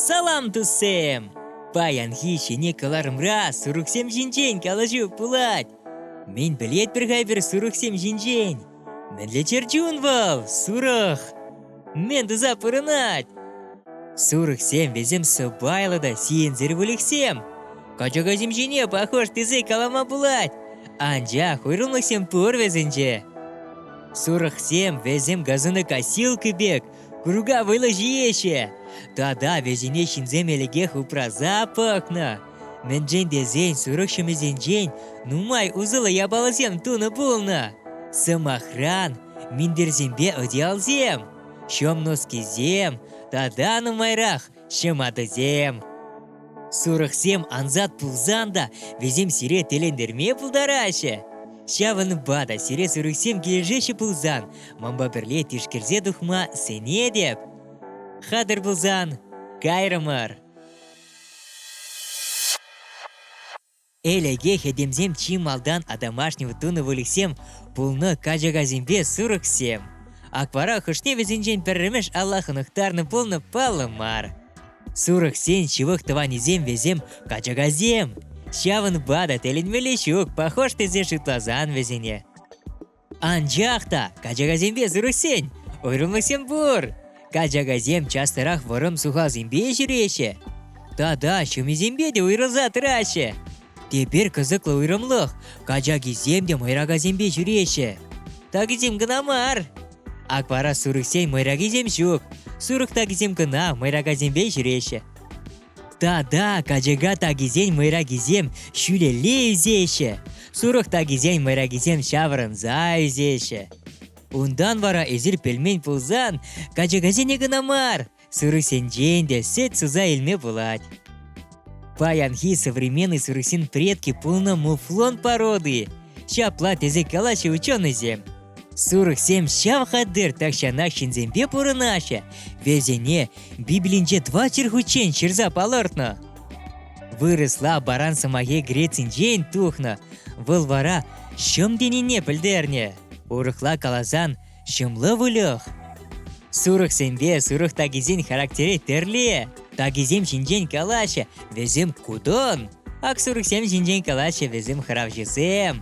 Салам, туссем! Паянхи ҫӗнӗ кӑларӑмра сурӑхсем ҫинчен калаҫу пулать. Мӗн пӗлетпӗр-ха эпир сурӑхсем ҫинчен? Мӗнле чӗрчун вӑл, сурӑх? Мӗн туса пурӑнать? Сурӑхсем вӗсем сӑпайлӑ та сиенсӗр выльӑхсем. Качакасем ҫине пахош тесе калама пулать, анчах уйрӑмлӑхсем пур вӗсенче. Сурӑхсем вӗсем газӑна косилка пек курка вылӑ ҫиеҫҫӗ. Тата вӗсене ҫынсем ӗлӗкех упраса пӑхнӑ. Мӗншӗн тесен сурӑх ҫӑмӗсенчен нумай усӑллӑ япаласем тунӑ пулнӑ. Сӑмахран, минтерсемпе одеялсем, ҫӑм носкисем тата нумайрах ҫӑматӑсем. Сурӑхсем ансат пулсан та вӗсем сире тӗлӗнтерме пултараҫҫӗ. Ҫавӑнпа та сире сурӑхсем килӗшеҫҫӗ пулсан манпа пӗрле тишкерсе тухма сӗнетӗп. Хатӑр пулсан, кайрӑмӑр! Ӗлӗке хӗтӗмсем чи малтан атамашнин тунӑ выльӑхсем пулнӑ качакасемпе сурӑхсем. Аквара хӑшне вӗсенчен пӗрремӗш алла хӑнӑхтарнӑ пулнӑ паллӑ мар. Сурӑхсен ҫывӑх тӑванӗсем вӗсем качакасем. Ҫавӑнпа та тӗлӗнмелле ҫук, пахош тесе шутласан вӗсене. Анчах та качакасемпе сырӑшсен уйрӑмлӑхсем пур. Качакасем частарах вӑрӑм сухасемпе ҫӳреҫҫӗ. Тата ҫӑмисемпе те уйрӑлса тӑраҫҫӗ. Тепер кӑсӑклӑ уйрӑмлӑх качакисем те мӑйракасемпе ҫӳреҫҫӗ. Такисем кӑна мар. Ак вара сурӑхсен мӑйракисем ҫук. Сурӑх такисем кӑна мӑйракасемпе ҫӳреҫҫӗ. Та-да, качака такисен мӑйракисем ҫӳлелле ӳсеҫҫӗ, сурӑх такисен мӑйракисем ҫаврӑнса ӳсеҫҫӗ. Унтан вара эсир пӗлмен пулсан, качакасене кӑна мар, сырӑсенчен те сӗт суса илме пулать. Паянхи современный сырӑсен предки пулнӑ муфлон породи. Ҫапла тесе калаҫҫӗ ученӑйсем. Сурӑхсем ҫав хатӗр тахҫанах ҫынсемпе пурӑнаҫҫӗ. Вӗсене Библинче два чӗрхуччен ҫырса палӑртнӑ. Вырӑсла баран сӑмахӗ Грецинчен тухнӑ. Вӑл вара ҫӑм тенине пӗлтернӗ. Урӑхла каласан, ҫӑмлӑ выльӑх. Сурӑхсемпе сурӑх такисен характере тӗрлӗ. Такисем ҫинчен калаҫҫӗ, вӗсем кудон. Ак сурӑхсем ҫинчен калаҫҫӗ вӗсем хравҫӑсем.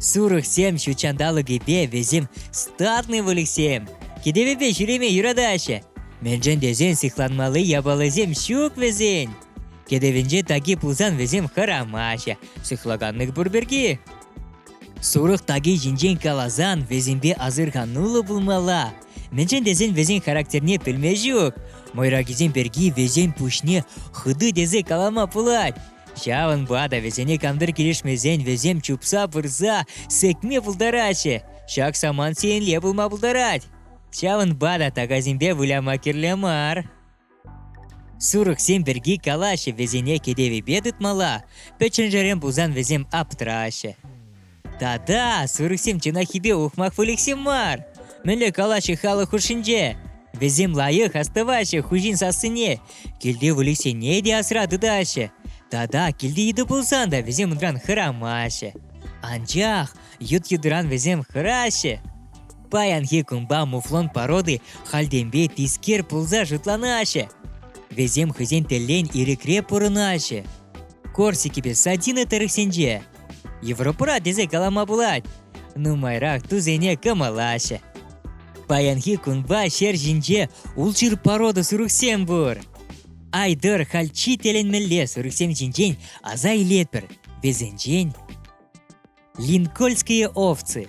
Сурӑхсем ҫутҫанталӑкӗпе вӗсем статный выльӑхсем. Кӗтӗвӗпе ҫӳреме юратаҫҫӗ. Мӗншӗн тесен сыхланмалли япаласем ҫук вӗсен. Кӗтӗвӗнче таки пулсан вӗсем хӑрамаҫҫӗ. Сыхлаканлӑх пур пирки. Сурӑх таки ҫинчен каласан вӗсемпе асӑрхануллӑ пулмалла. Мӗншӗн тесен вӗсен характерне пӗлме ҫук. Мӑйракисем пирки вӗсен пуҫне хытӑ тесе калама пулать. Ҫавӑнпа та вӗсене кантӑр килӗшмесен вӗсем чупса пырса сӗкме пултараҫҫӗ. Ҫак самант сиенле пулма пултарать. Ҫавӑнпа та такасемпе выляма кирлӗ мар. Сурӑхсем пирки калаҫҫӗ вӗсене кӗтевӗпе тытмалла, пӗчченшерен пулсан вӗсем аптраҫҫӗ. Та-та, сурӑхсем чӑнаххипе ухмах выльӑхсем мар. Мӗнле калаҫҫӗ халӑх хушшинче? Вӗсем лайӑх астӑваҫҫӗ хуҫин сассине, килти выльӑхсене те асра тытаҫҫӗ. Тата килти йытӑ пулсан та вӗсем унран хӑрамаҫҫӗ. Анчах ют йытӑран вӗсем хӑраҫҫӗ. Паянхи кунпа муфлон породи хальтенпе тискер пулса шутланаҫҫӗ. Вӗсем хӑйсен тӗллен ирӗкре пурӑнаҫҫӗ. Корсикипе сардина тӑрӑхсенче Европӑра тесе калама пулать. Нумайрах тусене кӑмӑлаҫҫӗ. Паянхи кунпа ҫер ҫинче улшыр порода сурӑхсем пур. Айдӑр хальчи тӗлӗнмелле сурӑхсем ҫинчен аса илетпӗр. Вӗсенчен Линкольские овцы.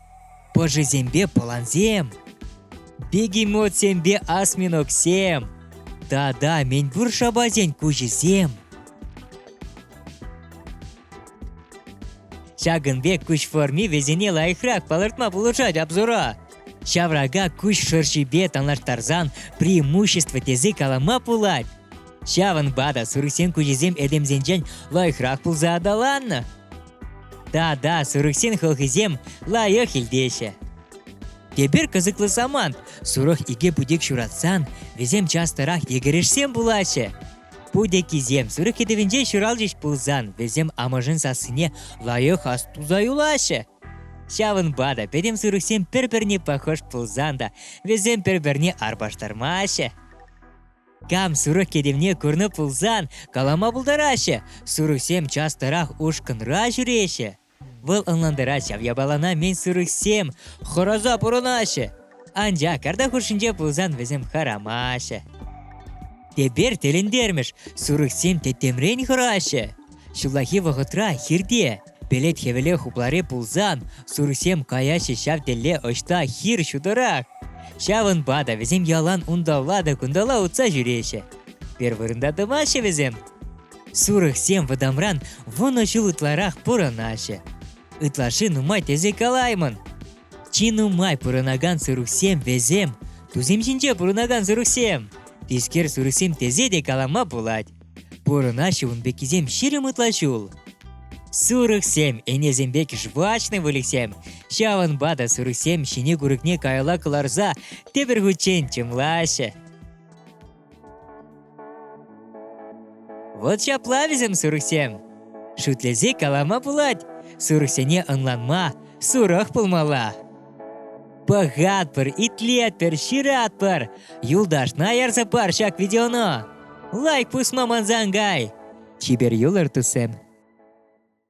Пӑшисемпе пӑлансем, бегемотсемпе осьминогсем тата мӗнпур шапасен куҫӗсем. Ҫакӑн пек куҫ форми вӗсене лайӑхрах палӑртма пулӑшать обзора. Ҫаврака куҫ шӑршипе танлаштарсан преимущество тесе калама пулать. Ҫавӑнпа та сурӑхсен куҫӗсем этемсенчен лайӑхрах пулса аталаннӑ. Да-да, сурӑхсен хӑлхисем лайӑх илтеҫҫӗ. Эпир кӑсӑклӑ самант. Сурӑх икӗ путек ҫуратсан, вӗсем частӑрах йӗкӗрешсем пулаҫҫӗ. Путеккисем сурӑх кӗтӗвӗнче ҫуралчӗҫ пулсан, вӗсем амӑшӗн сассине лайӑх ас туса юлаҫҫӗ. Ҫавӑнпа та пӗтӗм сурӑхсем пӗр-пӗрне пахӑш пулсан та, вӗсем пӗр-пӗрне арпаштармаҫҫӗ. Кам сурӑх кӗтӗвне курнӑ пулсан, калама пултараҫҫӗ. Сурӑхсем частӑрах ушкӑнра ҫӳреҫҫӗ. Вӑл ӑнлантарать ҫав япалана мӗн сурӑхсем хӑраса пурӑнаҫҫӗ. Анчах карта хушшинче пулсан вӗсем хӑрамаҫҫӗ. Тепер тӗлӗнтермӗш, сурӑхсем тӗттӗмрен хӑраҫҫӗ. Ҫуллахи вӑхӑтра хирте Пелет хӗвеле хуплари пулсан, сурсем каяҫҫӗ ҫав тӗлле ӑҫта хир ҫутӑрах. Ҫавӑнпа та вӗсем ялан унталла та кунталла утса ҫӳреҫҫӗ. Пӗр вырӑнта тӑваҫҫӗ вӗсем. Сурӑхсем вӑтамран вунӑ ҫул ытларах пурӑнаҫҫӗ. Ытлашши нумай тесе калаймӑн. Чи нумай пурӑнакан сурӑхсем вӗсем, тусем ҫинче пурӑнакан сурӑхсем. Тискер сурӑхсем тесе те калама пулать. Пурӑнаҫҫӗ ун пеккисем ҫирӗм ытла ҫул. Сурӑхсем, ӗнесемпе кӗшвачный выльӑхсем. Ҫавӑнпа та сурӑхсем ҫине курӑкне каялла кӑларса тепӗр хутчен чӑмлаҫҫӗ. Вот ҫапла вӗсем сурӑхсем. Шӳтлесе калама пулать, сурӑхсене ӑнланма, сурах пулмалла. Пӑхатпӑр, итлетпӗр, ҫыратпӑр. Юлташна ярса пар ҫак видеону. Лайк пусма мансан кай. Чипер юлӑр, туссем.